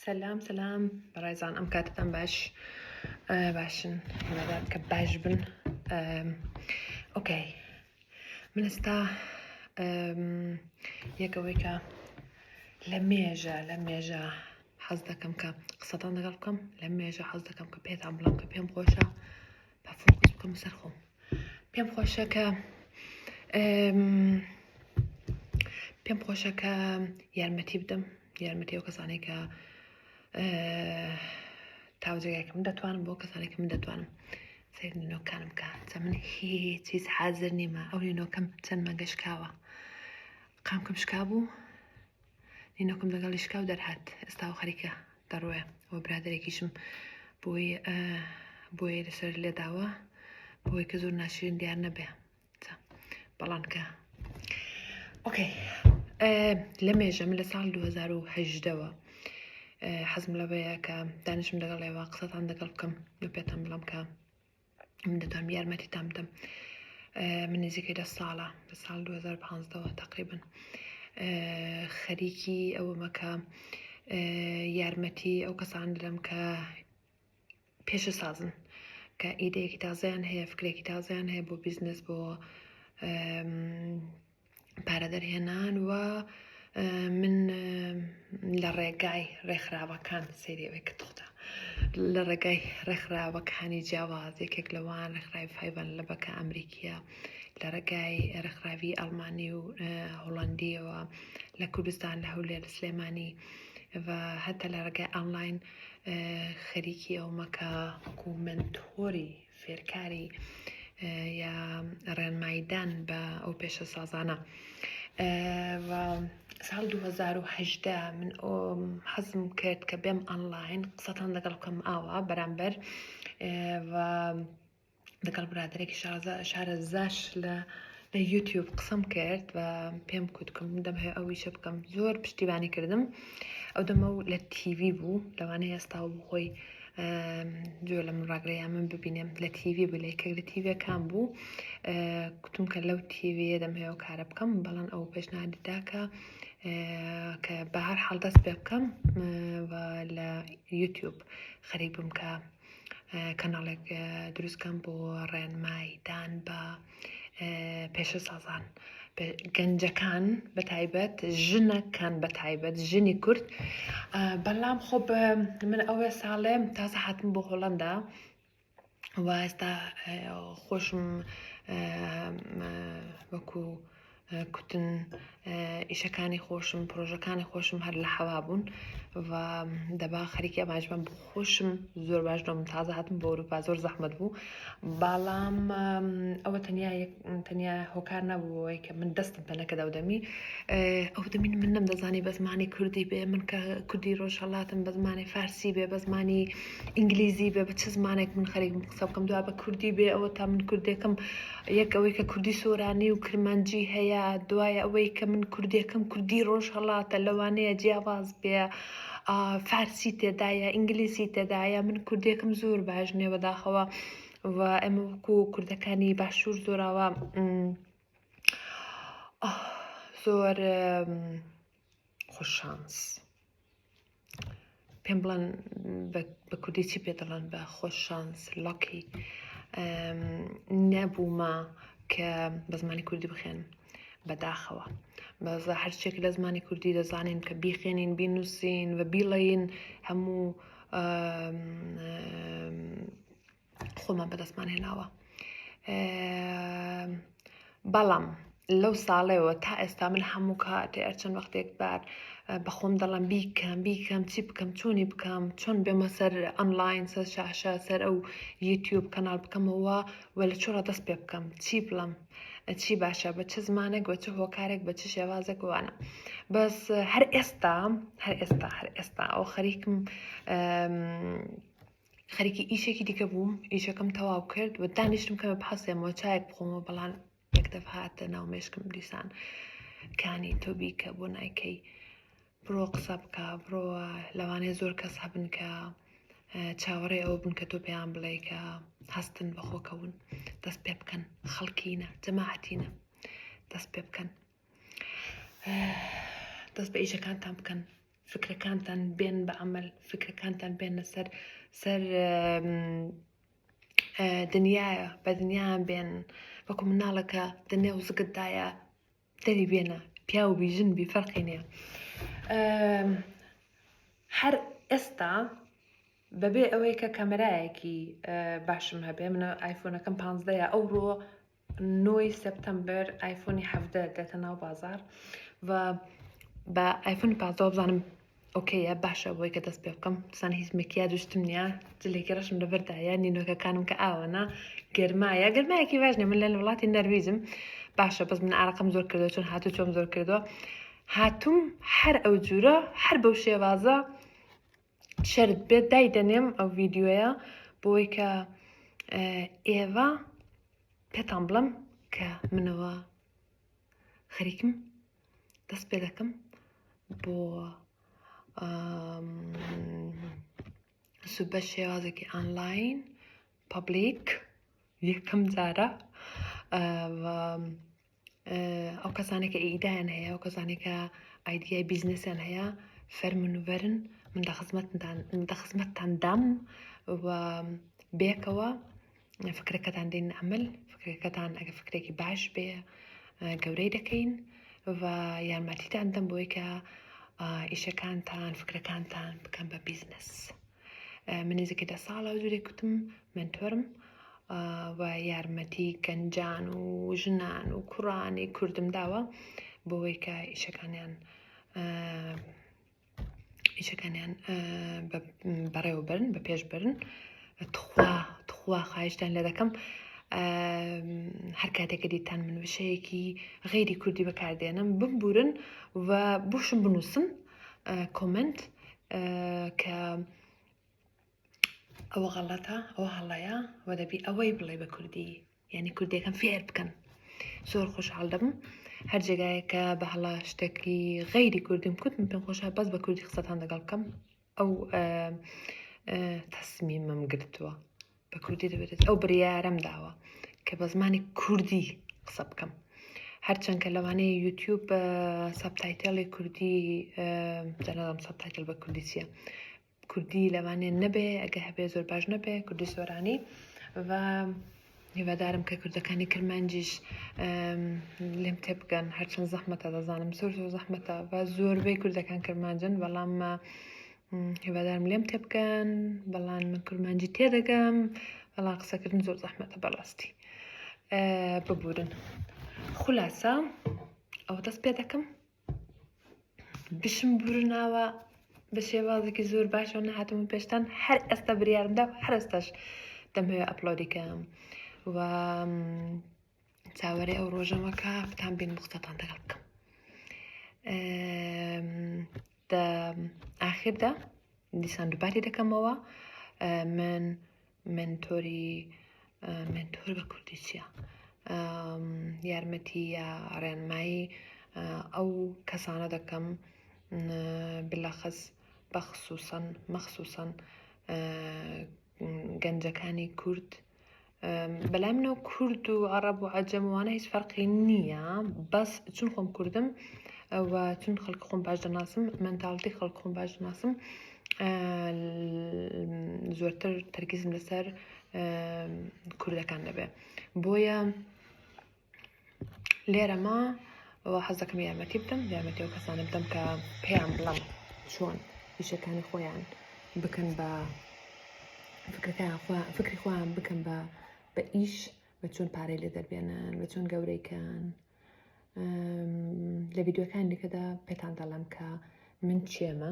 سەلام سەلام بەڕێزان ئەم کاتتان باش باشن هێمەدات کە باش بن ئۆکەی من ئێستا یەکەوەی کە لە مێژە لە مێژە حەز دەکەم کە قسەتان دەگەڵ بکەم لە مێژە حەز دەکەم کە پێتان بڵم کە پێم خۆشە بە فۆکس بکەم سەر خۆم پێم خۆشە کە پێم خۆشە کە یارمەتی بدەم یارمەتی ئەو کەسانەی کە تاوجێگاکەم دەتوانم بۆ کەسانێک من دەتوانم سیر نینۆکانم بکە چە من هیچیز حازر نیمە ئەو نینۆکەم چەند مەگە شکاوە قامکم شکا بوو نینۆکم لەگەڵی شکاو دەرهات ئێستا و خەریکە دەڕوێ و برادێکیشم بۆی بۆیە لەسەر لێداوە بۆی کە زۆر ناشرین دیار نەبێ بەڵام کە ئۆکەی لە مێژە من لە ساڵ 2010ەوە حەزم لەوەیە کە دانیشم لەگەڵ ئێوە قسەتان دەگەڵ بکەم لە پێتان بڵم کە من دەتوانم یارمەتی تام بدەم من نزیکەی دە ساڵە لە ساڵ 2015ەوە تقریبن خەریکی ئەوە مەکە یارمەتی ئەو کەسان دەم کە پێشەسازن کە ئیدەیەکی تازەیان هەیە فکرێکی تازەیان هەیە بۆ بیزنس بۆ پارە دەرهێنان و من لە ڕێگای ڕێکخراوەکان سریەوەی کە تۆتە لە ڕێگای ڕێکخراوەکانی جیاواز یەکێک لەوان ڕێکخراوی فیبان لە بەکە ئەمریکیە لە ڕێگای ڕێکخراوی ئەڵمانی و هۆڵندیەوە لە کوردستان لە هەولێر سلێمانی و هەتا لە ڕێگای ئەنلاین خەریکی ئەو مەکە وەکو منتۆری فێرکاری یا ڕێنمایدان بە ئەو پێشە سازانە ساڵ 2010 من ئۆم حەزم کرد کە بێم ئەنلاین قسەتان لەگەڵ بکەم ئاوا بەرامبەر و لەگەڵ برادێکی شازە شارە زاش لە یوتیوب قسەم کرد و پێم کوتکم دەم هەیە ئەو ویشە بکەم زۆر پشتیبانی کردم ئەو دەمە و لە تیوی بوو لەوانەیە ئێستا و بخۆی جۆ لە من ڕاگرەیە من ببینێم لە تیوی بلێ کە لە تیوەکان بوو کوتم کە لەو تیویە دەم هەیە و کارە بکەم بەڵام ئەو پێشنادیدا کە کە بە هەر حاڵدەست پێ بکەم لە یوتیوب خەریک بم کە کەناڵێک دروستکەم بۆ ڕێنمای دان بە پێشە سازان گەنجەکان بە تایبەت ژنەکان بە تایبەت ژنی کورد بەڵام خۆ من ئەوێ ساڵێم تازە حتم بۆ هۆڵندا واستا خۆشم وەکو کوتن ئیشەکانی خۆشم پرۆژەکانی خۆشم هەر لە حەوا بوون و دەبا خەریکی ئەماجبم بۆ خۆشم زۆر باش دۆم تازە هاتم بۆ ئەوروپا زۆر زەحمت بوو باڵام ئەوە تەنیا تەنیا هۆکار نەبووەوەی کە من دەستم پەنە کە دەودەمی ئەو دەمین من نەم دەزانی بە زمانی کوردی بێ من کە کوردی ڕۆژهڵاتم بە زمانی فارسی بێ بە زمانی ئینگلیزی بێ بە چ زمانێک من خەریک بم قسە بکەم دوا بە کوردی بێ ئەوە تا من کوردێکم یەک ئەوەی کە کوردی سۆرانی و کرمانجی هەیە دوای ئەوەی کە من کوردێکم کوردی ڕۆژ هەڵاتە لەوانەیە جیاواز بێ فارسی تێدایە ئینگلیسی تێدایە من کوردێکم زۆر باش نیە بەداخەوە و ئەمە وەکو کوردەکانی باشوور زۆراوە زۆر خۆشانس. پێم بڵێن بە کوردی چی پێ دەڵێن بە خۆش شانس لەکی نەبوومە کە بە زمانی کوردی بخێن بەداخەوە بەزە هەرچێک لە زمانی کوردی دەزانین کە بیخێنین بینووسین و بیڵین هەموو خۆمان بەدەستمان هێناوە بەڵام لەو ساڵێەوە تا ئێستا من هەموو کاتێ ئەرچەند وەختێک بار بەخۆم دەڵم بیکەم بیکەم چی بکەم چۆنی بکەم چۆن بێمە سەر ئەملاین سەر شاشە سەر ئەو یوتیوب کەناڵ بکەمەوە و لە چۆڕە دەست پێ بکەم چی بڵم چی باشە بە چ زمانێک بە چ هۆکارێک بە چ شێوازێک وانە بەس هەر ئێستا هەر ئێستا هەر ئێستا ئەو خەریکم خەریکی ئیشێکی دیکە بووم ئیشەکەم تەواو کرد و دانیشتم کەمە بحەسێمەوە چایەک بخۆمەوە بەڵام یەکدەف هاتە ناو مێشکم دیسان کانی تۆ بیکە بۆ نایکەی بڕۆ قسە بکە بڕۆ لەوانەیە زۆر کەس هەبن کە چاوەڕێ ئەوە بن کە تۆ پێیان بڵێ کە هەستن بەخۆکەون دەست پێ بکەن خەڵکینە جەماعەتینە دەست پێ بکەن دەست بە ئیشەکانتان بکەن فکرەکانتان بێن بە عمل فکرەکانتان بێنە سەر سەر دنیاە بە دنیایان بێن وەکو مناڵەکە دنێ و زگتدایە دەری بێنە پیاو بی ژن بی فەرقی نیە هەر ئێستا بەبێ ئەوەی کە کەمەرایەکی باشم هەبێ منە ئایفۆنەکەم پانزدەیە ئەو ڕۆ نۆ ی سپتەمبەر ئایفۆنی حەڤدە دێتە ناو بازار و بە ئایفۆنی پازدەوە بزانم ئۆکەیە باشە بۆی کە دەست پێ بکەم سان هیچ مکیا دوشتم نیە جلێکی ڕەشم لەبەردایە نینۆکەکانم کە ئاوەنا گەرمایە گەرمایەکی باش نیە من لە وڵاتی نەرویزم باشە بەس من ئارەقم زۆر کردو چون هاتو چۆم زۆر کردووە هاتووم هەر ئەو جورە هەر بەو شێوازە شەرت بێت دای دەنێم ئەو ڤیددیوەیە بۆی کە ئێوە پێتان بڵم کە منەوە خەریکم دەست پێ دەکەم بۆ سوبە شێوازێکی ئانلاین پبلیک یەکەم جارە ئەو کەسانێک کە ئیدایان هەیە ئەو کەسانێک کە ئایدیای بیزنسیان هەیە فەرمون و بەرن من دە خزمەتتان دە خزمەتتان دام و بێکەوە فکرەکەتان دێن ئەمل فکرەکەتان ئەگە فکرێکی باش بێ گەورەی دەکەین و یارمەتیتان دەم بۆی کە ئیشەکانتان فکرەکانتان بکەم بە بیزنس. من نزیکە دە ساڵە و زورێک کوتم منتۆرم و یارمەتی گەنجان و ژنان و کوڕانی کوردم داوە بۆەوەی کە ئیشەکانیان ئیشەکانیان بەڕێوەبرن بە پێش برن تخوا تخوا خواهشتان لە دەکەم هەر کاتێکە دیتان من وشەیەکی غیری کوردی بەکاردێنم بمبورن و بوشم بنووسن کۆمنت کە ئەوە غەڵەتە ئەوە هەڵەیە و دەبی ئەوەی بڵێ بە کوردی یعنی کوردەکەم فێر بکەن زۆر خۆشحاڵ دەبم هەر جێگایەکە بە هەڵا شتێکی غەیری کوردیم کوت من پێم خۆشە بەس بە کوردی قسەتان دەگەڵ بکەم ئەو تەسمیمم گرتووە بە کوردی دەبێت ئەو بڕیارەم داوە کە بە زمانی کوردی قسە بکەم هەرچەند کە لەوانەیە یوتیوب بە سەبتایتەڵی کوردی جەنەڵم سەبتایتل بە کوردی چییە کوردی لەوانێ نەبێ ئەگە هەبێ زۆر باش نەبێ کوردی سۆرانی و هیوادارم کە کوردەکانی کرمانجیش لێم تێ بگەن هەرچەند زەحمەتە دەزانم زۆر زۆر زەحمەتە و زۆربەی کوردەکان کرمانجن بەڵام هیوادارم لێم تێبگەن بەڵام من کورمانجی تێدەگەم بەڵام قسەکردن زۆر زەحمەتە بەڕاستی ببورن خولاسە ئەو دەست پێ دەکەم بشم بورناوە بە شێوازێکی زۆر باشەوە نەهاتم و پێشتان هەر ئێستا بریارمدا هەرستاش دەمەوێت ئەپلۆدیکەم و چاوەرێ ئەو ڕۆژەوە کە فتان بێن مختتان دەگەڵ بکەم ئاخردا دیسان دووباری دەکەمەوە من منتۆری منتۆر بە کوردی چیە یارمەتی یا ڕێنمایی ئەو کەسانە دەکەم بلەخەز بەخصوصەن مەخصوصەن گەنجەکانی کورد بەلای منەوە کورد و عەڕەب و عەجەم وانە هیچ فەرقی نییە بەس چون خۆم کوردم و چون خەڵک خۆم باش دەناسم منداڵتی خەڵک خۆم باش دەناسم زۆرتر تەرکیزم لەسەر کوردەکان دەبێت بۆیە لێرەما و حەز دەکەم یارمەتی بدەم یارمەتی ئەو کەسانە بدەم کە پێیان بڵم چۆن پیشەکانی خۆیان بکەن بە فکرەکان خۆیان فکری خۆیان بکەن بە بە ئیش بە چۆن پارەی لێ دەربێنن بە چۆن گەورەیکەن لە ویددیوەکان دیکەدا پێتان دەڵم کە من چێمە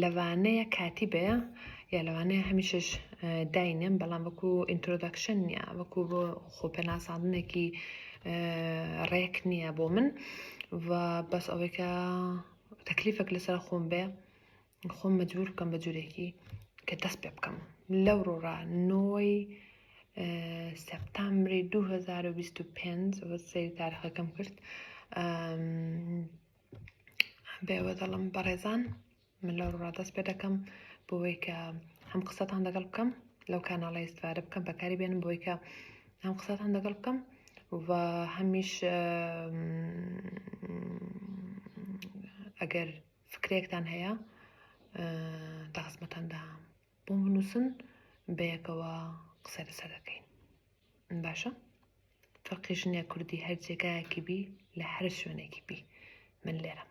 لەوانەیە کاتی بەیە یا لەوانەیە هەمیشش داینێم بەڵام وەکو ئینترۆدەکشن نیە وەکو بۆ خۆپەناساندنێکی ڕێک نییە بۆ من و بەس ئەوەیکە تەکلیفەک لەسەر خۆم بێ خۆم مەجبور بکەم بە جورێکی کە دەست پێ بکەم لەو ڕۆڕا نۆی سپتامبری 2025 سەری تارخەکەم کرد بێوە دەڵم بەڕێزان من لەو ڕا دەست پێ دەکەم بۆی کە هەم قسەتان دەگەڵ بکەم لەو کاناڵی ئێستفادە بکەم بەکاری بێنم بۆی کە هەم قسەتان دەگەڵ بکەم و هەمیش ئەگەر فکرێکتان هەیە داخزمەتان دام بۆ بنووسن بەیەکەوە قسە لەسەر دەکەین باشە فەرقی ژنێ کوردی هەر جێگایەکی بی لە هەر شوێنێکی بی من لێرەم